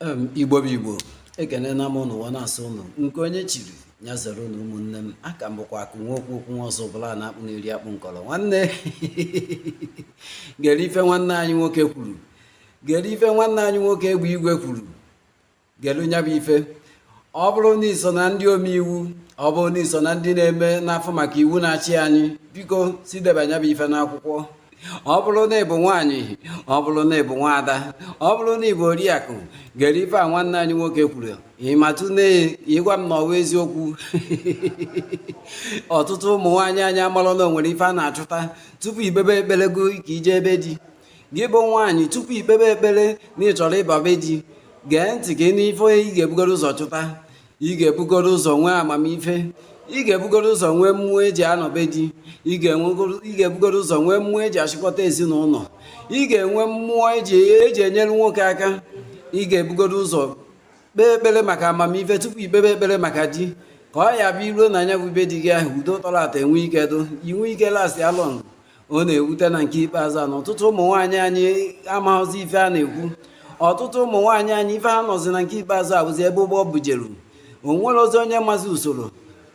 igbo bụ igbo ekene na m ụnụ na-asụ ụnụ nke onye chiri ya zere ụnụ ụmụnne m afa m bụkwa akụ nwa okwu okwu nwa ọzụbụlụ na-akpụ na-eri akpụ nkọrọ nwanne gere ife nwanne anyị nwoke kwuru gere ife nwanne anyị nwoke egbe igwe kwuru gere nya bụ ife ọ bụrụ na i so na ndị omeiwu ọ bụrụ na i so na ndị na-eme na-afụ maka iwu na-achị anyị biko si deba nya bụ ife n'akwụkwọ ọ bụrụ na ị bụ nwaanyị ọ bụrụ na ị bụ nwaada ọ bụrụ na ị bụ oriakụ gere ife a nwanne anyị nwoke kwuru ị matụ na ị gwa m na ọ wụ eziokwu ọtụtụ ụmụ nwaanyị anyị amarọ na o nwere ife a na-achụta tupu i kpebe ekpere gị ka i jee be di gị bụ nwaanyị tupu i kpebe ekpere na ị chọrọ ịba be di gee ntị ka ị nụ ife ị ga-ebugodo ụzọ chụta ị ga-ebugodo ụzọ nwee amamife ị ga-ebugodo ụzọ nwee mmụọ e ji anọ be di ị ga-ebugodo ụzọ nwee mmụọ e ji achịkọta ezinụlọ ị ga-enwe mmụọ e ji enyere nwoke aka ị ga-ebugodo ụzọ kpee ekpere maka amamife tupu i kpebe ekpere maka di ka ọ ya-abụ i ruo na nya bụ be di gị ahụ udo tọrọ atọ enwee ike dị i nwee ike last long ọ na-ewute na nke ikpeazụ a na ọtụtụ ụmụ nwaanyị anyị amaghịzi ife a na-ekwu ọtụtụ ụmụ nwaanyị anyị ife ha nọzi na nke ikpeazụ a bụzi ebe ụgbọ bujeru o nwerọzi onye mazi usoro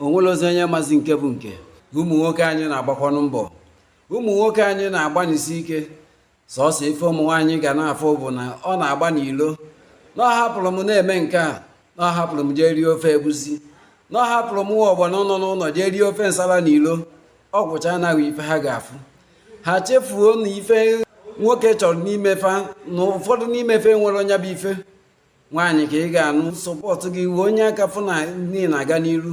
o nwerọzi onye mazi nke bụ nke ụmụ nwoke anyị na-agbakwanụ mbọ ụmụ nwoke anyị na-agbanisi ike sọsọ ife ụmụ nwaanyị ga na-afụ bụ na ọ na-agba n'ilo na ọ hapụrụ m na-eme nke a na ọ hapụrụ m jee rie ofe egusi na ọ hapụrụ m nwa ọgbọnọ nọ n'ụlọ jee rie ofe nsala n'ilo ọ gwụchana ife ha ga-afụ ha chefuo na ife nwoke chọrọ n'ime fa na ụfọdụ n'ime fa enwerọ nya bụ ife nwaanyị ka ị ga-anụ support gị wee nye aka fụ na ị na-aga n'iru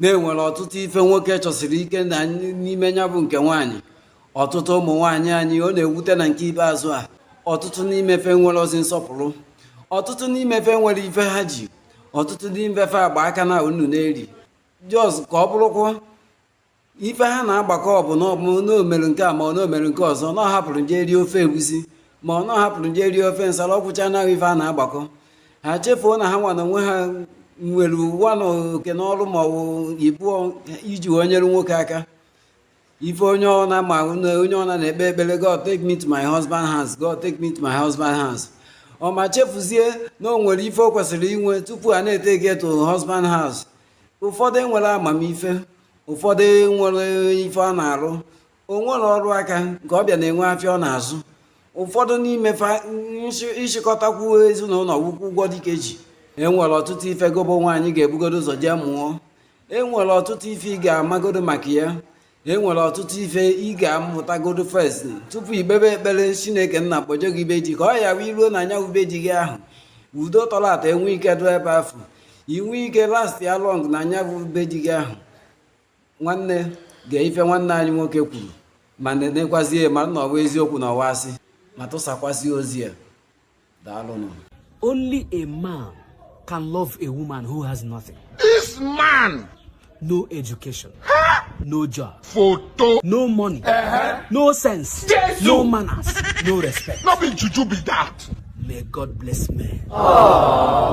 na e nwere ọtụtụ ife nwoke chọsiri ike n'ime nya bụ nke nwaanyị ọtụtụ ụmụ nwaanyị anyị ọ na-ewute na nke ikpeazụ a ọtụtụ n'ime fa enwerọzi nsọpụrụ ọtụtụ n'ime fa enwerọ ife ha ji ọtụtụ n'ime fa gba aka na-aṅụ na-eri just ka ọ bụrụkwa ife ha na-agbakọ bụ na o mere nke a ma ọ na o mere nke ọzọ na ọ hapụrụ m jee rie ofe egusi ma ọ na ọ hapụrụ m jee rie ofe nsala ọ gwụchana ife ha na-agbakọ ha chefuo na ha nwa na onwe ha nwerekwanụ oke na ọrụ ma ọ bụ ibu iji wee nyere nwoke aka ife onye ọ na-ama na onye ọ na-ekpe ekpere God take me to my husband house God take me to my husband house ọ ma chefuzie na o nwere ife o kwesịrị inwe tupu a na-etake gị to husband house ụfọdụ enwerọ amamife ụfọdụ enwerọ ife ha na-arụ o nwere ọrụ aka nke ọ bịa na-enwe afịa ọ na-azụ ụfọdụ n'ime ịchịkọtakwu ezinụlọ wukwu ụgwọ dịka eji enwere ọtụtụ ife gị bụ nwaanyị ga-ebugodo ụzọ jee mụọ enwere ọtụtụ ife ị ga-amagodo maka ya enwere ọtụtụ ife ị ga-amụtagodo first tupu i kpebe ekpere chineke nna kpọje gị be di ka ọ ya wee ruo na anya ube ji gị ahụ udo tọrọ atọ enwee ike dụ ebe afụ i nwee ike lastịa long na nya bụ be di gị ahụ nwanne gee ife nwanne anyị nwoke kwuru ma nenekwazie ma na ọ wa eziokwu na ọ wa asị ma tụsakwazie ozi a daalụnụ only a man can love a woman who has nothing this man no education no job photo no money uh -huh. no sense Jesus. no manners no respect no be juju be that may god bless men Aww.